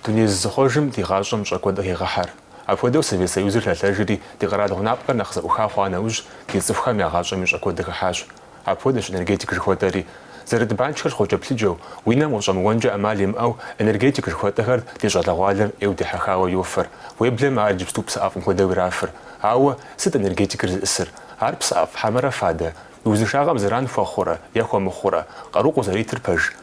Дуней зызыхъуэжым ди гъащӏэм щӏэ куэд къыхегъэхьэр. Апхуэдэу Совет Союзыр лъэлъэжри, ди къэрал гъунапкъэр нэхъ зэӏуха хъуа нэужь, ди цӏыхухэм я гъащӏэми щӏэ куэд къыхыхьащ. Апхуэдэщ энергетик жыхуэтӏэри. Зэрыт банкхэр щхъуэкӏэплъыкӏэу, уи нэм къыщӏэмыуэнкӏэ ӏэмал имыӏэу энергетик жыхуэтӏэхэр ди щӏалэгъуалэм ӏейуэ дихьэхауэ йофэр. Уеблэмэ ар иджыпсту псыӏэфӏым хуэдэу ирафыр. Ауэ сыт энергетикыр зыӏысыр? Ар псыӏэфӏ хьэмэрэ фадэ? Узыншагъэм зэран хуэхъурэ е хуэмыхъурэ? Къару къузэритыр пэж?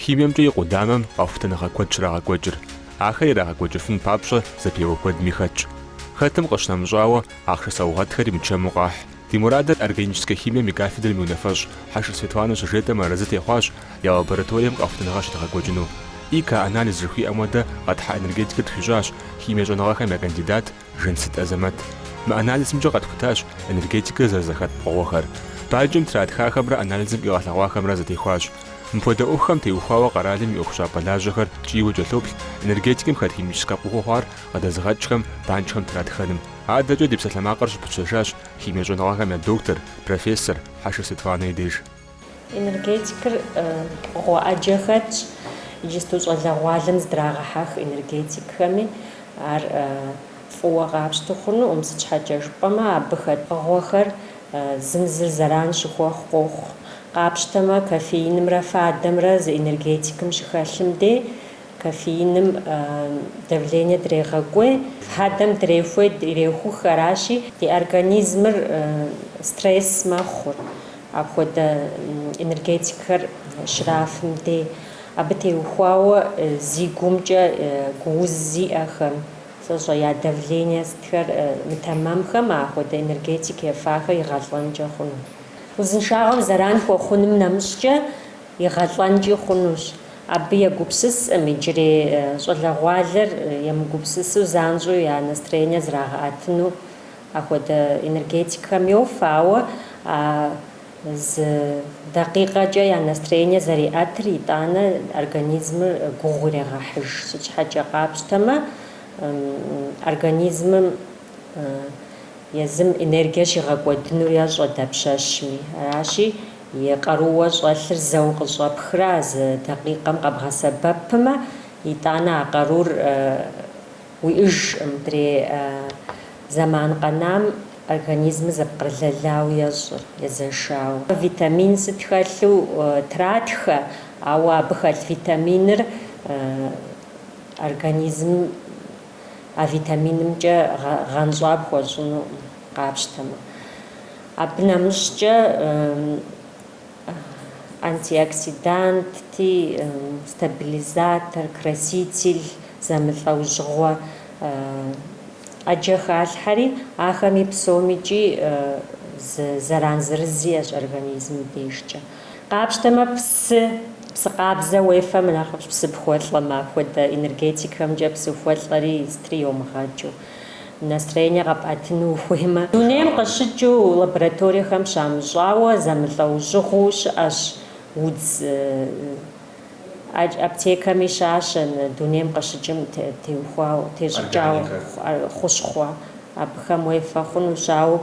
Химиемкӏэ и къудамэм къэхутэныгъэ куэд щрагъэкӏуэкӏыр, ахэр ирагъэкӏуэкӏыфын папщӏэ зэпеуэ куэдми хэтщ. Хэтым къыщынэмыщӏауэ, ахъшэ саугъэтхэри мычэму къахь. Ди мурадыр органическэ химием и кафедрэм и унафэщӏ Хьэшыр Светланэ щыжетӏэм арэзы техъуащ я лабораторием къэхутэныгъэ щыдгъэкӏуэкӏыну. ИК-анализ жыхуиӏэм хуэдэ къэтхьа энергетикыр тхуищӏащ химие щӏэныгъэхэм я кандидат, Жансыт Азэмэт мы анализымкӏэ къэтхутащ энергетикыр зэрызэхэт пкъыгъуэхэр. Банкым тратхахэмрэ анализым къигъэлъэгъуахэмрэ зэтехуащ. Мыпхуэдэ ӏуэхухэм теухуауэ къэралым и ӏуэхущӏапӏэ лажьэхэр ткӏийуэ кӏэлъоплъ энергетикым хэт химическэ пкъыгъуэу хъуар къыдэзыгъэкӏхэм банкхэм тратхэным. Адэкӏэ ди псалъэмакъыр щыпытщэжащ химие щӏэныгъэхэм я доктор, профессор Хьэшыр Светланэ и деж. Энергетикыр пкъыгъуэ ӏэджэ хэтщ, иджысту щӏалэгъуалэм здрагъэхьэх энергетикхэми, ар фӏыуэ къапщту хъунукъым, сыт щхьэкӏэ жыпӏэмэ абы хэт пкъыгъуэхэр зым зыр зэран щыхуэхъу къохъу. Къапщтэмэ, кофеинымрэ фадэмрэ зы энергетикым щыхэлъым дей Кофеиным давление дрегъэкӏуей, фадэм дрехуей, ирехух, аращи, ди организмыр стресс мэхъур, апхуэдэ энергетикхэр щрафым дей. Абы теухуауэ зи гумкӏэ гууз зиӏэхэм, сэ сщӏэ, я давление сытхэр мытэмэмхэм апхуэдэ энергетик ефахэр игъэлӏэнкӏэ хъуну. Узыншагъэм зэран хуэхъуным нэмыщӏкӏэ, игъэлӏэнкӏи хъунущ. Абы егупсысӏым иджырей щӏалэгъуалэр емыгупсысу занщӏэу я настроение зрагъэӏэтыну. Ахуэдэ энергетикхэм йофэ, ауэ а зы дакъикъэкӏэ я настроение зэриӏэтыр итӏанэ организмыр гугъу ирегъэхьыж. Сыт щхьэкӏэ къапщтэмэ, организмым Езым энергие щигъэкӏуэдынур ещӏэ дапщэщми. Аращи, и къарууэ щӏэлъыр зэу къыщӏэпхрэ а зы дакъикъэм къэбгъэсэбэпмэ, итӏанэ а къарур уиӏыжӏым, мыдрей зэман къэнам организмыр зэпкърылэлауэ ещӏыр, езэшауэ. Витамин сыт хэлъу тратхэ, ауэ абы хэлъ витаминыр организмым. а витаминымкӏэ гъэнщӏа пхуэщӏыну къапщтэмэ. Абы нэмыщӏкӏэ антиоксиданти, стабилизатор, краситель зэмылӏэужьыгъуэ ӏэджэ халъхьэри, ахэми псомикӏи зэран зырыз иӏэщ организмым дежкӏэ. Къапщтэмэ, псы, псы къабзэ уефэмэ нэхъыфӏщ, псы ухуэлӏэмэ, апхуэдэ энергетикхэмкӏэ псыхуэлӏэри сытри йомыгъэкӏыу, настроение къэпӏэтыну ухуеймэ. Дунейм къыщыкӏыу лабораториехэм щамыщӏауэ зэмылӏэужьыгъуу щыӏэщ удз аптекэми щащэ дунейм къыщыкӏым теухуауэ, тещӏыкӏауэ хущхъуэ абыхэм уефэ хъунущ, ауэ.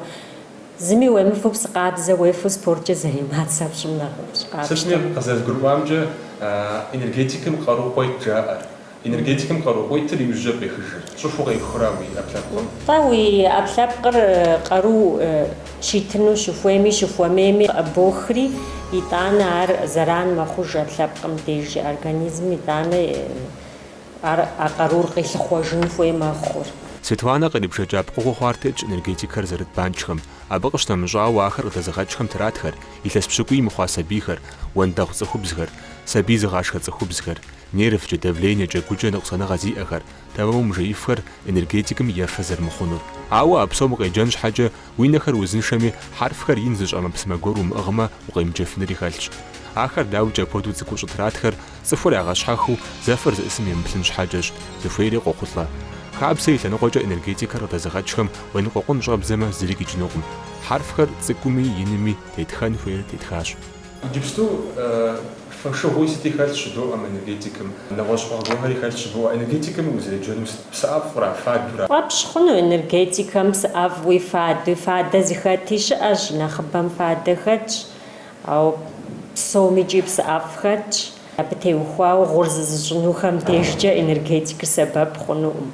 Зыми уемыфэу псы къабзэ уефэу спорткӏэ заниматься пщӏым нэхъыфӏщ, Сытми къызэрызгурыӏуамкӏэ, энергетикым къару къуейт жаӏэр. Энергетикым къару къуейтыр иужькӏэ къехыжыр. Щӏыхуэу къехура уи ӏэпкълъэпкъым? Тӏэ, уи ӏэпкълъэпкъыр къару щитыну щыхуейми, щыхуэмейми къыбохри, итӏанэ ар зэран мэхъуж ӏэпкълъэпкъым деж, организмым итӏанэ. Ар а къарур къилъыхъуэжын хуей мэхъур. Светланэ кърибжэкӏа пкъыгъуэ хъуар тетщ энергетикхэр зэрыт банкӏхэм. Абы къыщынэмыщӏауэ, ахэр къыдэзыгъэкӏхэм тратхэр, илъэс пщыкӏуий мыхъуа сабийхэр, уэндэгъу цӏыхубзхэр, сабий зыгъашхэ цӏыхубзхэр, нервкӏэ, давлениекӏэ, гукӏэ ныкъусаныгъэ зиӏэхэр, тэмэму мыжеифхэр энергетикым ефэ зэрымыхъунур. Ауэ а псом укъеджэн щхьэкӏэ, Уи нэхэр узыншэми, хьэрфхэр ин зыщӏ ӏэмэпсымэ гуэр умыӏыгъмэ, укъемыджэфынри хэлъщ. Ахэр дауикӏ апхуэдэу цӏыкӏуу щӏытратхэр, цӏыхур ягъэщхьэхыу зэфэр зыӏысым емыплъын щхьэкӏэщ, зыхуейри къохъулӏэ. Хабзэ и лъэныкъуэкӏэ энергетикэр къыдэзыгъэкӏхэм уеныкъуэкъун щӏэбдзэмэ зыри къикӏынукъым. Хьэрфхэр цӏыкӏуми, инми тетхэн хуейр тетхащ. Иджыпсту фэшыгъуи сыти хэлъщ жыдоӏэ мы энергетикым. Нэгъуэщӏ пкъыгъуэхэри хэлъщ жыбоӏэ. Энергетикым узеджэну сыт? Псыӏэфӏра, фадура? Фӏэпщ хъуну энергетикхэм псыӏэфӏуи, фадуи? Фадэ зыхэти щыӏэщ, нэхъыбэм фадэ хэтщ, ауэ псомикӏи псыӏэфӏ хэтщ. Абы теухуауэ гъур зызыщӏынухэм дежкӏэ энергетикыр сэбэп хъунукъым.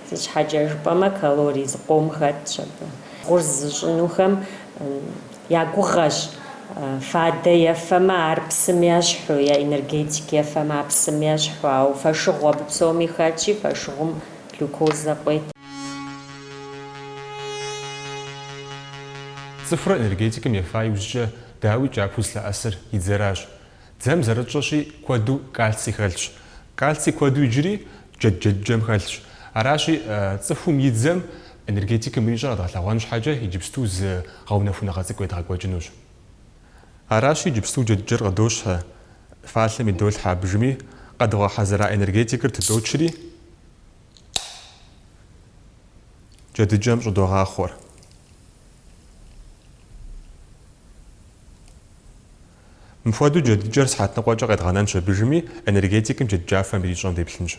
Сыт щхьэкӏэ жыпӏэмэ, калорий зыкъом хэтщ абы. Гъур зызыщӏынухэм. Я гугъэщ, фадэ ефэмэ, ар псым ещхьу, я энергетик ефэмэ, ар псым ещхьу, ауэ фэшыгъу абы псоми хэтщи, фэшыгъум глюкозэ къует. Цӏыхур энергетикым ефа иужькӏэ, дауикӏ, япэу зылъэӏэсыр и дзэращ. Дзэм зэрытщӏэщи куэду кальций хэлъщ. Кальций куэду иджыри джэдыкӏэм хэлъщ. Аращи, цӏыхум и дзэм энергетикым ирищӏэр къэдгъэлъэгъуэн щхьэкӏэ иджыпсту зы гъэунэхуныгъэ цӏыкӏу едгъэкӏуэкӏынущ. Аращи, иджыпсту джэдыкӏэр къыдощхьэ, фалъэм идолъхьэ абыжми, къэдгъэхьэзыра энергетикэр тыдочри, джэдыкӏэм щӏыдогъахъуэр. Мыпхуэдэу джэдыкӏэр сыхьэт ныкъуэкӏэ къедгъэнэнщ абыжми, энергетикэм джэдыкӏафэм ирищӏэм деплъынщ.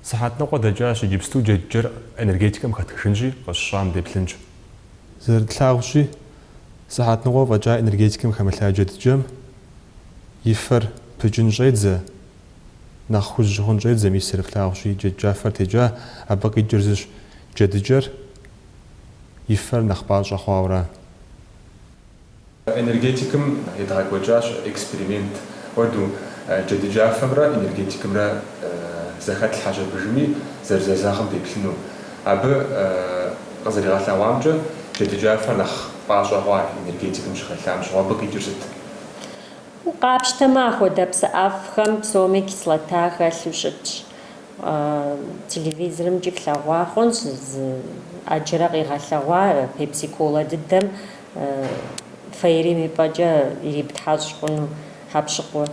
Сыхьэт ныкъуэ дэкӏащ, иджыпсту джэдыкӏэр энергетикэм хэтхыжынщи, къыщыщӏам деплъынщ. Зэрытлъагъущи, сыхьэт ныкъуэ фӏэкӏа энергетикэм хэмылъа джэдыкӏэм и фэр пыкӏын щӏедзэ, Нэхъ хужь хъун щӏедзэ, мис зэрыфлъагъущи, джэдыкӏафэр текӏа, абы къикӏыр зыщ джэдыкӏэр, и фэр нэхъ пӏащӏэ хъуауэра. Энергетикэм едгъэкӏуэкӏащ эксперимент хуэдэу, джэдыкӏафэмрэ энергетикэмрэ зэхэтлъхьэщ абыжми зэрызэзэгъым деплъыну. Абы къызэригъэлъэгъуамкӏэ, джэдыкӏафэр нэхъ пӏащӏэ хъуа энергетикэм щыхэлъам щыгъуэ абы къикӏыр сыт? Къапщтэмэ, ахуэдэ псыӏэфӏхэм псоми кислота хэлъу щытщ. Телевизорымкӏи флъэгъуа хъунщ зы ӏэджэрэ къигъэлъэгъуа пепси-колэ дыдэм фейрим и пӏэкӏэ ириптхьэщӏ хъуну хьэкъущыкъур.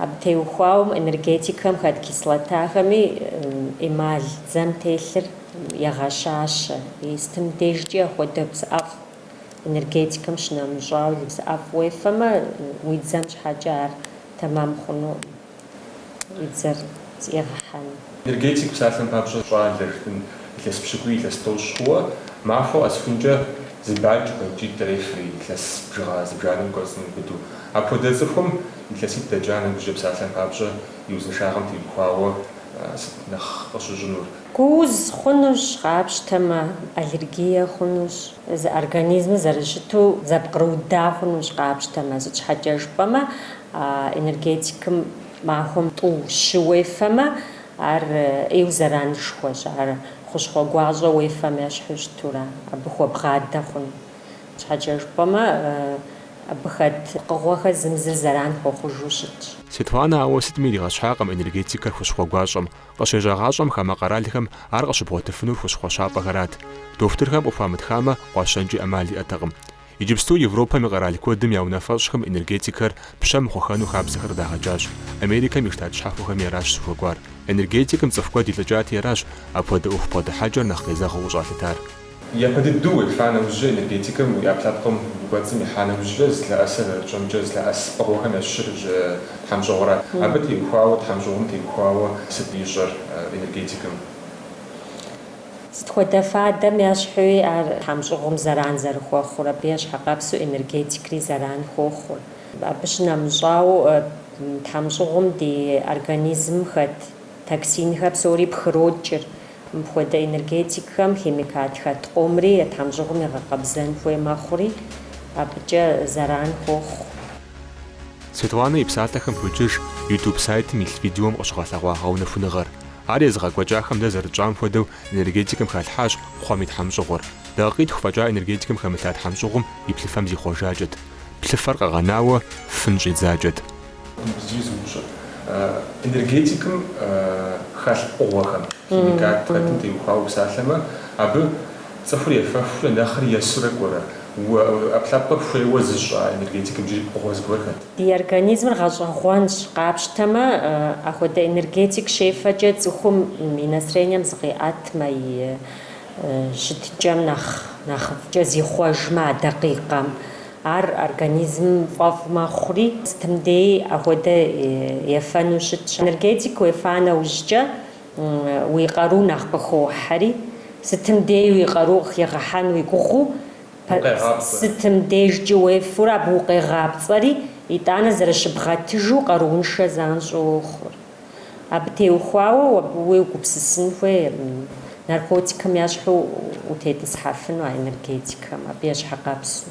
Абы теухуауэ энергетикэм хэт кислотахэми эмаль дзэм телъыр егъэщащэ. И сытым дежкӏи ахуэдэ псыӏэфӏ Энергетикэм щынэмыщӏауэ зы псыӏэфӏ уефэмэ, уи дзэм щхьэкӏэ ар тэмэм хъуну уи дзэр зэӏигъэхьэну. Энергетик псалъэм папщӏэ щӏалэ жыпӏэн илъэс пщыкӏуи илъэс тӏощӏ хъууэ, махуэ къэсхункӏэ зы банкӏ банкӏитӏ ирефри, илъэс бжыгъэ зыбжанэм кӏуэцӏым иубыдэу. Апхуэдэ цӏыхум илъэситӏ дэкӏа нэужькӏэ псалъэм папщӏэ и узыншагъэм теухуауэ сыт нэхъ къыщыщӏынур? Гууз хъунущ, къапщтэмэ, аллергие хъунущ, организмыр зэрыщыту зэпкърыуда хъунущ, къапщтэмэ, сыт щхьэкӏэ жыпӏэмэ, энергетикым махуэм тӏу щы уефэмэ, ар ӏейу зэранышхуэщ, ар хущхъуэ гуащӏэ уефэм ещхьу щытура, абы хуэбгъадэ хъуну. Сыт щхьэкӏэ жыпӏэмэ, абы хэт пкъыгъуэхэр зым зыр зэран хуэхъужу щытщ. Светланэ ауэ сытми иригъэщхьакъым энергетикэр хущхъуэ гуащӏэм. Къыщежьагъащӏэм хамэ къэралхэм ар къыщыбгъуэтыфынур хущхъуэщапӏэхэрат. Дохутырхэм къыхуамытхамэ, къуащэнкӏи ӏэмал иӏэтэкъым. Иджыпсту Европэм и къэрал куэдым я унафэщӏхэм энергетикхэр пщэ мыхъухэну хабзэхэр къыдагъэкӏащ. Америкэм и Штат щхьэхуэхэми аращ зыхуэкӏуар. Энергетикым цӏыху куэд илӏыкӏати, аращ апхуэдэ ӏуэху бгъэдыхьэкӏэр нэхъ къезэгъыу къыщӏалъытар. Япэ дыдэу уефа нэужькӏэ энергетикым уи ӏэпкълъэпкъым кӏуэцӏым ихьа нэужькӏэ зылъэӏэс, зэрытщӏэмкӏэ зылъэӏэс пкъыгъуэхэм ящыщыр тхьэмщӏыгъура? Абы теухуауэ, тхьэмщӏыгъум теухуауэ сыт ищӏэр энергетикым? Сыт хуэдэ фадэм ещхьуи ар тхьэмщӏыгъум зэран зэрыхуэхъур, абы ещхьэкъэпсу энергетикри зэран хуохъур. Абы щынэмыщӏауэ тхьэмщӏыгъум ди организмым хэт токсинхэр псори пхрокӏыр. Мыпхуэдэ энергетикхэм химикат хэт къомри а тхьэмщӏыгъум игъэкъэбзэн хуей мэхъури, абыкӏэ зэран хуохъу. Светланэ и псалъэхэм хуокӏуэж YouTube сайтым илъ видеом къыщыгъэлъэгъуа гъэунэхуныгъэр. Ар езыгъэкӏуэкӏахэм дэ зэрытщӏам хуэдэу энергетикым халъхьащ кхъуэм и тхьэмщӏыгъур. Дакъикъитху фӏэкӏа энергетикым хэмылъа тхьэмщӏыгъум и плъыфэм зихъуэжакӏэт. Плъыфэр къэгъэнауэ фын щӏидзакӏэт. Энергетикым хэлъ пкъыгъуэхэм, химикат хэтым теухуауэ упсалъэмэ, абы цӏыхур ефэхурэ нэхъри есурэ кӏуэрэ, ӏэпкълъэпкъыр хуейуэ зыщӏ а энергетикым иджыри пкъыгъуэ зыгуэр хэт? Ди организмыр гъэщӏэгъуэнщ, къапщтэмэ, ахуэдэ энергетик щефэкӏэ цӏыхум и настроением зыкъиӏэтмэ, и щытыкӏэм нэхъ нэхъыфӏкӏэ зихъуэжмэ а дакъикъэм. Ар организмым фӏэфӏ мэхъури, сытым деи ахуэдэ ефэну щытщ. Энергетик уефа нэужькӏэ, уи къару нэхъ къыхохьэри, сытым деи уи къару къыхигъэхьэн уи гугъэу, сытым дежкӏи уефурэ абы укъегъапцӏэри, итӏанэ зэрыщыбгъэтыжу къарууншэ занщӏэу уохъур. Абы теухуауэ абы уегупсысын хуей наркотикхэм ещхьу утетӏысхьэфыну а энергетикхэм, абы ещхьэкъэпсу.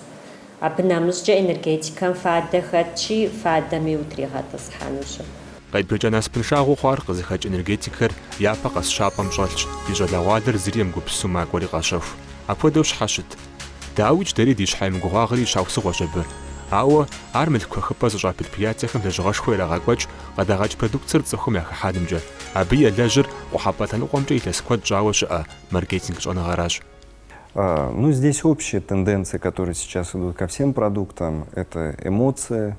Абы нэмыщӏкӏэ энергетикхэм фадэ хэтщи, фадэми утригъэтӏысхьэнущ. Къебжэкӏа насыпыншагъэу хъуар къызыхэкӏ энергетикхэр япэ къэс щапӏэм щӏэлъщ, ди щӏалэгъуалэр зыри емыгупсысу макӏуэри къащэху. Апхуэдэу щхьэ щыт? Дауикӏ дэри ди щхьэ емыгугъуагъри щхьэусыгъуэщ абы. Ауэ, ар мылъку хэхыпӏэ зыщӏа предприятиехэм лэжьыгъэшхуэ ирагъэкӏуэкӏ къыдагъэкӏ продукцэр цӏыхум яхыхьэнымкӏэ, абы елэжьыр къухьэпӏэ лъэныкъуэмкӏэ илъэс куэд щӏауэ щыӏэ маркетинг щӏэныгъэращ. Ну, здесь общие тенденции, которые сейчас идут ко всем продуктам, это эмоция,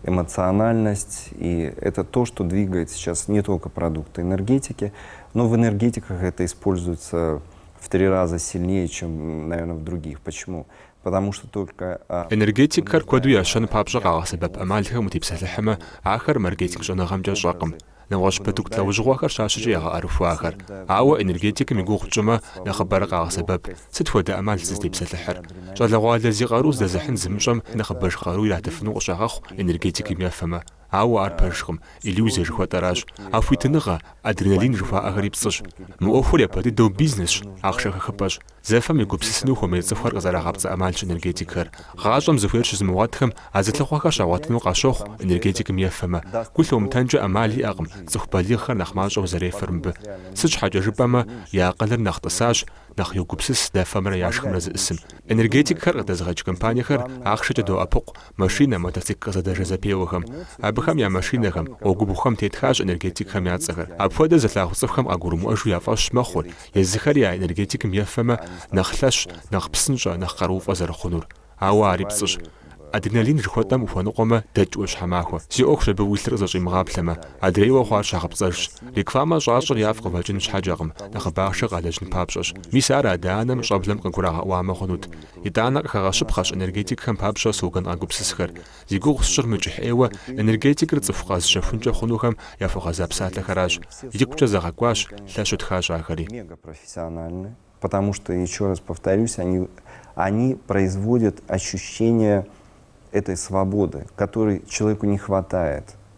эмоциональность, и это то, что двигает сейчас не только продукты энергетики, но в энергетиках это используется в три раза сильнее чем наверное в других почему потому что только Энергетикхэр куэду ящэн папщӏэ къагъэсэбэп ӏэмалхэм утепсэлъыхьмэ, ахэр маркетинг щӏэныгъэмкӏэ щӏэкъым. Нэгъуэщӏ продукт лэужьыгъуэхэр щащэкӏэ ягъэӏэрыхуэ ахэр. Ауэ энергетикым и гугъу тщӏымэ, нэхъыбэрэ къагъэсэбэп. Сыт хуэдэ ӏэмал сызытепсэлъыхьыр? Щӏалэгъуалэ зи къару здэзыхьын зымыщӏэм нэхъыбэж къару иратыфыну къыщагъэхъу энергетикым ефэмэ. Ауэ ар пэжкъым, иллюзие жыхуэтӏэращ. А хуитыныгъэ, адреналин жыхуаӏэхэри пцӏыщ. Мы ӏуэхур япэ дыдэу бизнесщ, ахъшэ хэхыпӏэщ. Зэфэм егупсысыну хуэмей цӏыхухэр къызэрагъапцӏэ ӏэмалщ энергетикхэр. Гъащӏэм зыхуейр щызымыгъуэтхэм а зылъыхъуэхэр щагъуэтыну къащохъу энергетикым ефэмэ. Гу лъумытэнкӏэ ӏэмал иӏэкъым, цӏыху балигъхэр нэхъ мащӏэу зэрефэр мыбы. Сыт щхьэкӏэ жыпӏэмэ, я акъылыр нэхъ тӏысащ, нэхъ йогупсыс зэфэмрэ яшхымрэ зыӏысым. Энергетикхэр къыдэзыгъэкӏ компаниехэр ахъшэкӏэ доӏэпыкъу, Машинэ, мотоцикл къызэдэжэ зэпеуэхэм, абыхэм я машинэхэм, гъуэгубгъухэм тетхащ энергетикхэм я цӏэхэр. Апхуэдэ зылъагъу цӏыхухэм къагурымыӏуэжу я фӏэщ мэхъур, езыхэри а энергетикым ефэмэ, нэхъ лъэщ, нэхъ псынщӏэ, нэхъ къарууфӏэ зэрыхъунур. Ауэ ари пцӏыщ. Адреналин жыхуэтӏэм ухуэныкъуэмэ, дэкӏ ӏуащхьэмахуэ. Си ӏуэхущ абы уи лъыр къызэщӏимыгъаплъэмэ. Адрейуэ хъуар щхьэгъэпцӏэжщ. Рекламэ щӏащӏыр яфӏ къывэкӏын щхьэкӏэкъым, нэхъыбэ ахъшэ къалэжьын папщӏэщ. Мис ар адэ-анэм щӏэблэм къыгурагъэӏуамэ хъунут. Итӏанэ къыхэгъэщыпхъэщ энергетикхэм папщӏэ слоган къагупсысхэр. Зи гугъу сщӏыр мыкӏыхь ӏейуэ энергетикыр цӏыху къэзыщэхункӏэ хъунухэм яхуэгъэза псалъэхэращ. Икъукӏэ зэгъэкӏуащ лъэщу тхащ ахэри. Потому что, еще раз повторюсь, они, они производят ощущение этой свободы, которой человеку не хватает.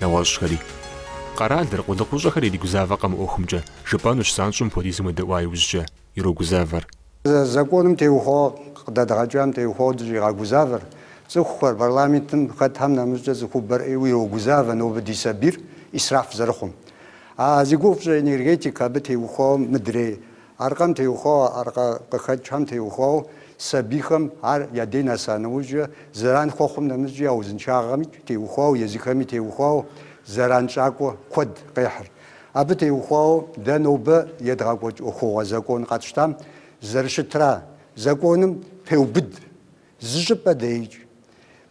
Нэгъуэщӏхэри. Къэралыр, къулыкъущӏэхэр иригузавэкъэ мы ӏуэхумкӏэ, жыпӏэнущ занщӏэу мыпхуэдизым уедэӏуа иужькӏэ, ирогузавэр. Законым теухуауэ къыдэдгъэкӏам теухуауэ дыщӏигъэгузавэр, цӏыхухэр, парламентым хэтхэм нэмыщӏкӏэ цӏыхубэр ӏейуэ ирогузавэ нобэ ди сабийр ӏисраф зэрыхъум. А зи гугъу пщӏэ энергетик абы теухуауэ мыдрей. Аркъэм теухуауэ аркъэ къыхэкӏхэм теухуауэ сабийхэм ар я дей нэса нэужькӏэ, зэран хуэхъум нэмыщӏкӏи я узыншагъэми теухуауэ, езыхэми теухуауэ зэранщӏакӏуэ куэд къехьыр. Абы теухуауэ дэ нобэ едгъэкӏуэкӏ ӏуэхугъуэ закон къэтщтам зэрыщытра, законым пеубыд Зы щӏыпӏэ деикӏ.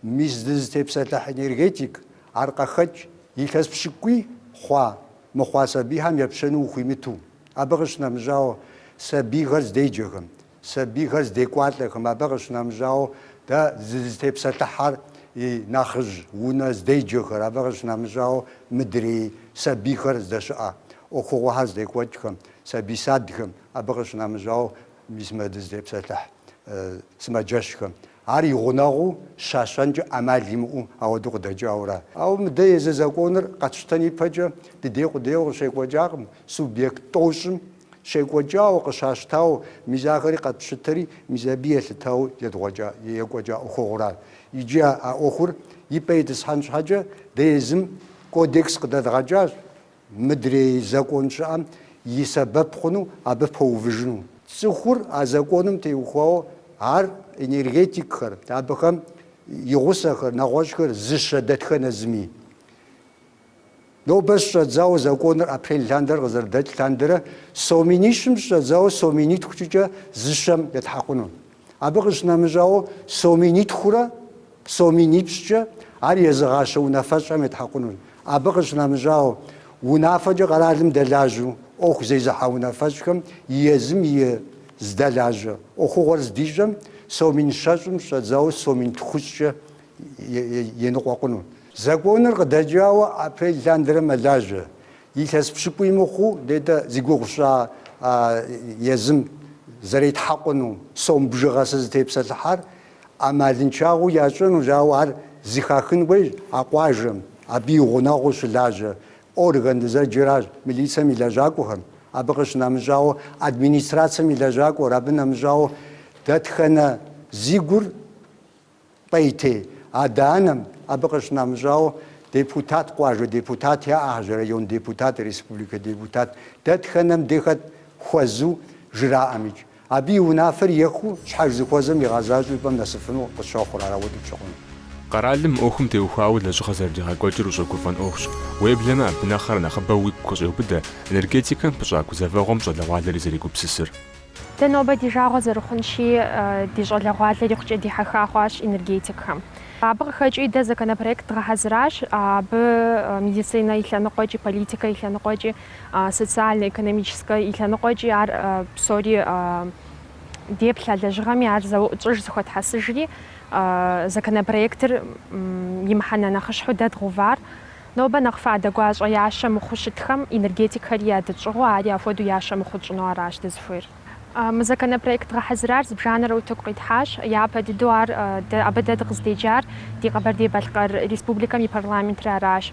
Мис дызытепсэлъыхь энергетик, аркъэхэкӏ, илъэс пщыкӏуи хъуа, мыхъуа сабийхэм епщэну ухуимыту. Абы къыщынэмыщӏауэ, сабийхэр здеджэхэм, сабийхэр здекӏуалӏэхэм, абы къыщынэмыщӏауэ, дэ дызытепсэлъыхьэр и нэхъыжь унэ здеджэхэр, абы къыщынэмыщӏауэ, мыдрей сабийхэр здэщыӏэ ӏуэхугъуэхэр здекӏуэкӏхэм, сабий садхэм, абы къыщынэмыщӏауэ, Мис мы дызытепсэлъыхь сымаджэщхэм ар и гъунэгъуу щащэнкӏэ ӏэмал имыӏэу ауэдэу къыдэкӏауэра? Ауэ мыдэ езы законыр къэтщтэн ипэкӏэ ди дей къудейуэ къыщекӏуэкӏакъым, субъект тӏощӏым щекӏуэкӏауэ, къыщащтауэ, мис ахэри къэтщытэри, мис абы елъытауэ едгъуэкӏа, екӏуэкӏа ӏуэхугъуэра? Иджы а ӏуэхур и пӏэ итӏысхьэн щхьэкӏэ дэ езым кодекс къыдэдгъэкӏащ. Мыдрей закон щыӏэм и сэбэп хъуну абы пэувыжыну. Цӏыхур а законым теухуауэ ар энергетикхэр, абыхэм и гъусэхэр, нэгъуэщӏхэр зыщэ дэтхэнэ зыми. Нобэ щыщӏэдзауэ законыр апрель лъандэрэ къызэрыдэкӏ лъандэрэ сом минищым щыщӏэдзауэ сом минитхукӏэ зыщэм етхьэкъуну. Абы къыщынэмыщӏауэ, сом минитхурэ сом минипщӏкӏэ ар езыгъащэ унафэщӏхэм етхьэкъунущ. Абы къыщынэмыщӏауэ, унафэкӏэ къэралым дэлажьэу ӏуэху зезыхьэ унафэщӏхэм езым и здэлажьэ ӏуэхугъуэр здищӏэм, сом мин щэщӏым щӏэдзауэ сом мин тхущӏкӏэ еныкъуэкъуну. Законыр къыдэкӏауэ апрель лъандэрэ мэлажьэ. Илъэс пщыкӏуий мыхъуу, нетӏэ зи гугъу сщӏа а езым зэретхьэкъуну сом бжыгъэ сызытепсэлъыхьар ӏэмалыншагъэу ящӏынущ, ауэ ар зыхахын хуейщ а къуажэм, абы и гъунэгъуу щылажьэ орган дызэджэращ, милицэм и лэжьакӏуэхэм, абы къыщынэмыщӏауэ, администрацэм и лэжьакӏуэр, абы нэмыщӏауэ, дэтхэнэ зи гур Пӏейтей, адэ-анэм, абы къыщынэмыщӏауэ, депутат, къуажэ депутат яӏэхэщ, район депутат, республикэ депутат, дэтхэнэм дей хэт хуэзэу жраӏэмикӏ. Абы и унафэр ехыу, щхьэж зыхуэзэм игъэзащӏэу и пӏэм нэсыфыну къысщохъур ар ауэдэу пщӏы хъуну. Къэралым мы ӏуэхум теухуауэ лэжьыгъэ зэрыдигъэкӏуэкӏыр ущӏэгуфӏэн ӏуэхущ. Уеблэмэ абы нэхърэ нэхъыбэу уигу къыщӏеубыдэ энергетикэм пыщӏа гузэвэгъуэм щӏалэгъуалэри зэрегупсысыр. Дэ нобэ ди жагъуэ зэрыхъунщи, ди щӏалэгъуалэр икъукӏэ дихьэха хъуащ энергетикхэм. Абы къыхэкӏыу дэ законопроект дгъэхьэзыращ, абы медицинэ и лъэныкъуэкӏи, политикэ и лъэныкъуэкӏи, социально-экономическэ и лъэныкъуэкӏи ар псори деплъа лэжьыгъэми ар зыуэ тщӏыж, зэхуэтхьэсыжри законопроектыр и мыхьэнэ нэхъыщхьэу дэ дгъэувар. Нобэ нэхъ фадэ гуащӏэ ящэ мыхъуу щытхэм энергетикхэри ядытщӏыгъуу, ари апхуэдэу ящэ мыхъуу тщӏыну аращ дызыхуейр. Мы законопроект дгъэхьэзырар зыбжанэрэ утыку къитхьащ. Япэ дыдэу ар дэ, абы дэ дыкъыздеджар ди Къэбэрдей-Балъкъэр Республикэм и парламентыр аращ.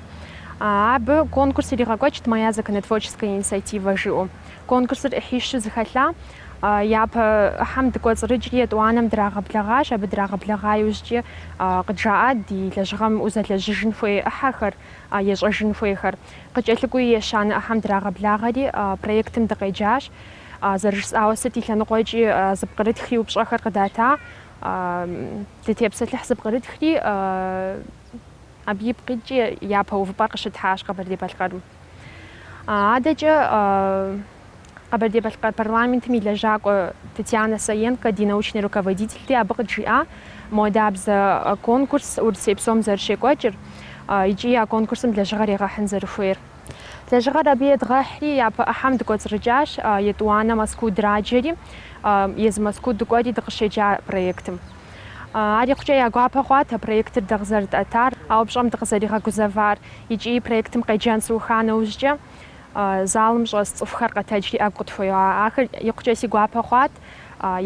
Абы конкурс иригъэкӏуэкӏт Моя законотворческая инициатива жиӏэу. Конкурсыр ӏыхьищу зэхэлъа. Япэ ӏыхьэм дыкӏуэцӏрыкӏри, етӏуанэм драгъэблэгъащ, абы драгъэблэгъа иужькӏи къыджаӏа ди лэжьыгъэм узэлэжьыжын хуей ӏыхьэхэр, ещӏэжын хуейхэр. Къыкӏэлъыкӏуэу ещанэ ӏыхьэм драгъэблагъэри, проектым дыкъеджащ. Зэрыжысӏауэ, сыт и лъэныкъуэкӏи зыпкърытхри упщӏэхэр къыдата. Дытепсэлъыхь зыпкърытхри, абы ипкъ иткӏи япэ увыпӏэр къыщытхьащ Къэбэрдей-Балъкъэрым. Адэкӏэ Къэбэрдей-Балъкъэр парламентым и лэжьакӏуэ Татьяна Саенкэ ди научный руководительти абы къыджиӏа, моуэдэбзэ конкурс Урысей псом зэрыщекӏуэкӏыр икӏи а конкурсым лэжьыгъэр егъэхьын зэрыхуейр. Лэжьыгъэр абы едгъэхьри, япэ ӏыхьэм дыкӏуэцӏрыкӏащ, етӏуанэ Мэзкуу драджэри, езы Мэзкуу дыкӏуэри дыкъыщеджа проектым. Ар икъукӏэ я гуапэ хъуат а проектыр дэ къызэрытӏэтар, а упщӏэм дыкъызэригъэгузэвар. Икӏи проектым къеджэн сыуха нэужькӏэ, залым щӏэс цӏыхухэр къэтэджри ӏэгу къытхуеуа. Ахэр икъукӏэ си гуапэ хъуат.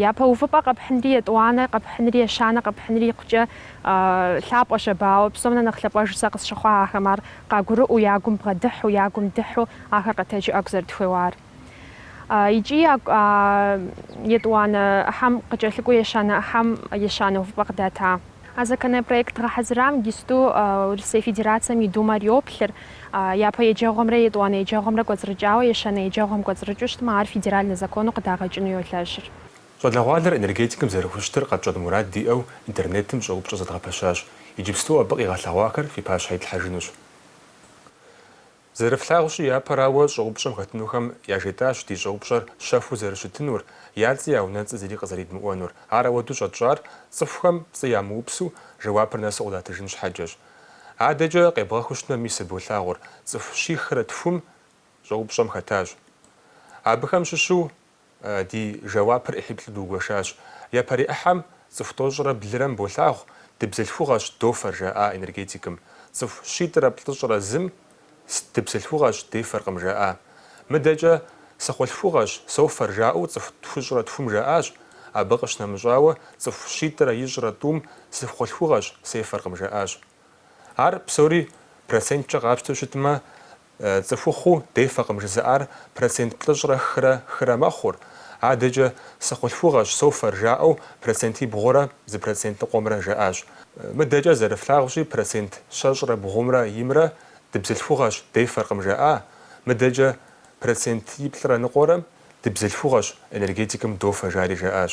Япэ увыпӏэ къэпхьынри, етӏуанэ къэпхьынри, ещанэ къэпхьынри икъукӏэ лъапӏэ щэбауэ. Псом нэ нэхъ лъапӏэжу сэ къысщыхъуа ахэм ар къагурыӏуэу, я гум бгъэдыхьу, я гум дыхьу ахэр къэтэджу ӏэгу зэрытхуеуар. Икӏи етӏуанэ ӏыхьэм къыкӏэлъыкӏуэу ещанэ ӏыхьэм ещанэ увыпӏэ къыдата. А законопроект гъэхьэзырам иджыпсту Урысей Федерацэм и Думэр йоплъыр, япэ еджэгъуэмрэ етӏуанэ еджэгъуэмрэ кӏуэцӏрыкӏауэ ещанэ еджэгъуэм кӏуэцӏрыкӏыу щытмэ, ар федеральнэ закону къыдагъэкӏыну йолэжьыр. Щӏалэгъуалэр энергетикым зэрыхущытыр къэтщӏэн мурад диӏэу интернетым щӏэупщӏэ зэдгъэпэщащ. Иджыпсту абы къигъэлъэгъуахэр фи пащхьэ итлъхьэжынущ. Зэрыфлъагъущи, япэрауэ, щӏэупщӏэм хэтынухэм яжетӏащ ди щӏэупщӏэр щэхуу зэрыщытынур, я цӏи я унэцӏи зыри къызэридмыӏуэнур. Ар ауэду щӏэтщӏар цӏыхухэм пцӏы ямыупсу жэуапыр нэсу къыдатыжын щхьэкӏэщ. Адэкӏэ къебгъэхыу щытмэ, мис болъагъур, цӏыху щихрэ тхум щӏэупщӏэм хэтащ. Абыхэм щыщу Ди жэуапыр ӏыхьиплӏу дугуэшащ. Япэрей ӏыхьэм цӏыху тӏощӏрэ блырэм болъагъу, дыбзылъхугъэщ дофэр, жаӏа энергетикым. Цӏыху щитӏрэ плӏыщӏрэ зым дыбзылъхугъэщ, дефэркъым, жаӏа. Мыдэкӏэ сыхъулъхугъэщ, софэр, жаӏэу цӏыху тхущӏрэ тхум жаӏащ. Абы къыщынэмыщӏауэ, цӏыху щитӏрэ ищӏрэ тӏум сыхъулъхугъэщ, сефэркъым, жаӏащ. Ар псори проценткӏэ къапщтэу щытмэ, Цӏыхухъуу дефэкъым жызыӏар процент плӏыщӏрэ хырэ хырэ мэхъур, адэкӏэ сыхъулъхугъэщ софэр, жаӏэу процентибгъурэ зы процент ныкъуэмрэ жаӏащ. Мыдэкӏэ зэрыфлъагъущи, процент щэщӏрэ бгъумрэ имрэ дыбзылъхугъэщ, дефэркъым жаӏа, мыдэкӏэ процентиплӏрэ ныкъуэрэ дыбзылъхугъэщ, энергетикым дофэ, жари жаӏащ.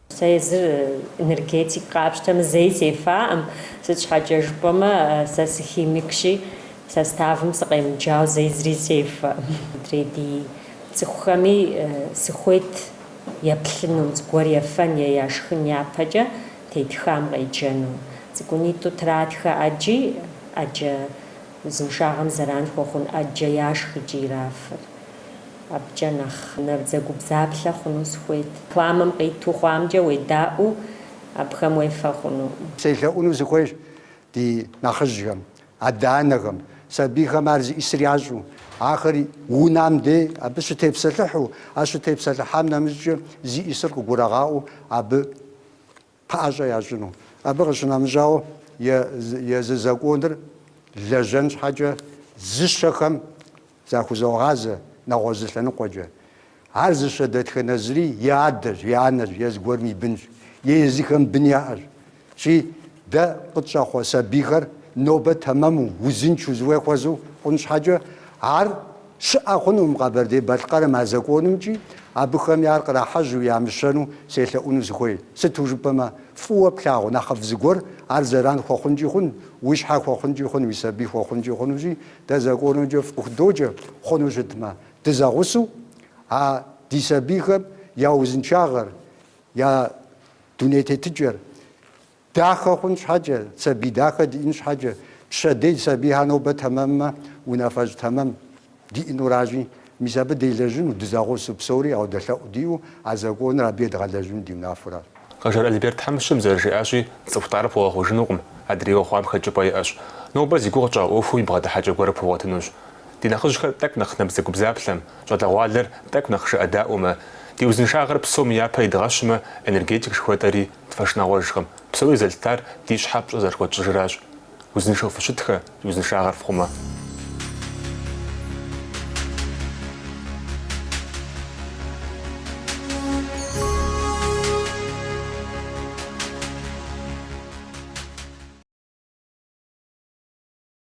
Сэ езыр энергетик къапщтэмэ зэи сефаӏым, сыт щхьэкӏэ жыпӏэмэ сэ сыхимикщи, составым сыкъемыджау зэи зыри сефэӏым. Мыдрей ди цӏыхухэми сыхуейт еплъыну, зыгуэр ефэн е яшхын япэкӏэ тетхам къеджэну. Цӏыкӏунитӏу тратхэ ӏэджи, ӏэджэ Узыншагъэм зэран хуэхъун ӏэджэ яшх икӏи ирафыр. Абыкӏэ нэхъ набдзэгубдзаплъэ хъуну сыхуейт. Рекламэм къиту хъуамкӏэ уедаӏуэу абыхэм уефэ хъуну. Селъэӏуну сыхуейщ ди нэхъыжьхэм, адэ-анэхэм, сабийхэм ар зиӏисыр ящӏу, ахэри унам дей абы щытепсэлъыхьу, а щытепсэлъыхьам нэмыщӏкӏэ зиӏисыр къыгурагъаӏуэу абы. пэӏэщӏэ ящӏыну. Абы къыщынэмыщӏауэ, езы законыр лэжьэн щхьэкӏэ зыщэхэм захузогъазэ нэгъуэзы лъэныкъуэкӏэ. Ар зыщэ дэтхэнэ зыри и адэщ, и анэщ, е зыгуэрым и бынщ, е езыхэм бын яӏэщ. Щи, дэ къытщӏэхъуэ сабийхэр нобэ тэмэму, узыншэу, зыхуей хуэзэу хъун щхьэкӏэ, ар Щыӏэ хъунукъым Къэбэрдей-Балъкъэрым а законымкӏи абыхэми ар кърахьэжьу ямыщэну селъэӏуну сыхуей. Сыту жыпӏэмэ, фӏыуэ плъагъу нэхъыфӏ зыгуэр ар зэран хуэхъункӏи хъун, уи щхьэ хуэхъункӏи хъун, уи сабий хуэхъункӏи хъунущи, дэ законымкӏэ фыхудоджэ, хъуну щытмэ, дызэгъусэу а ди сабийхэм я узыншагъэр, я дуней тетыкӏэр Дахэ хъун щхьэкӏэ, сабий дахэ диӏэн щхьэкӏэ, пщэдей сабийхэр нобэ тэмэммэ, унафэщӏ тэмэм диӏэнуращи, мис абы делэжьыну, дызэгъусэу псори ауэдэ лъэӏу диӏэу а законыр абы едгъэлэжьыну ди унафэращ. Къэжэр Альберт тхьэмыщкӏэм зэрыжиӏащи, цӏыху лӏар пхуэгъэхъужынукъым, адрейуэ хъуам хэкӏыпӏэ иӏэщ. Нобэ зи гугъу тщӏа ӏуэхуу и бгъэдыхьэкӏэ гуэрыр пхуэгъуэтынущ. Ди нэхъыжьхэр тӏэкӏу нэхъ набдзэгубдзаплъэм, щӏалэгъуалэр тӏэкӏу нэхъ жыӏэдаӏуэмэ, ди узыншагъэр псоми япэ идгъэщымэ, энергетик жыхуэтӏэри, Тхуэшынагъуэжкъым. Псори зэлъытар ди щхьэ пщӏэ зэрыхуэтщӏыжыращ. Узыншэу фыщытхэ, ди узыншагъэр фхъумэ.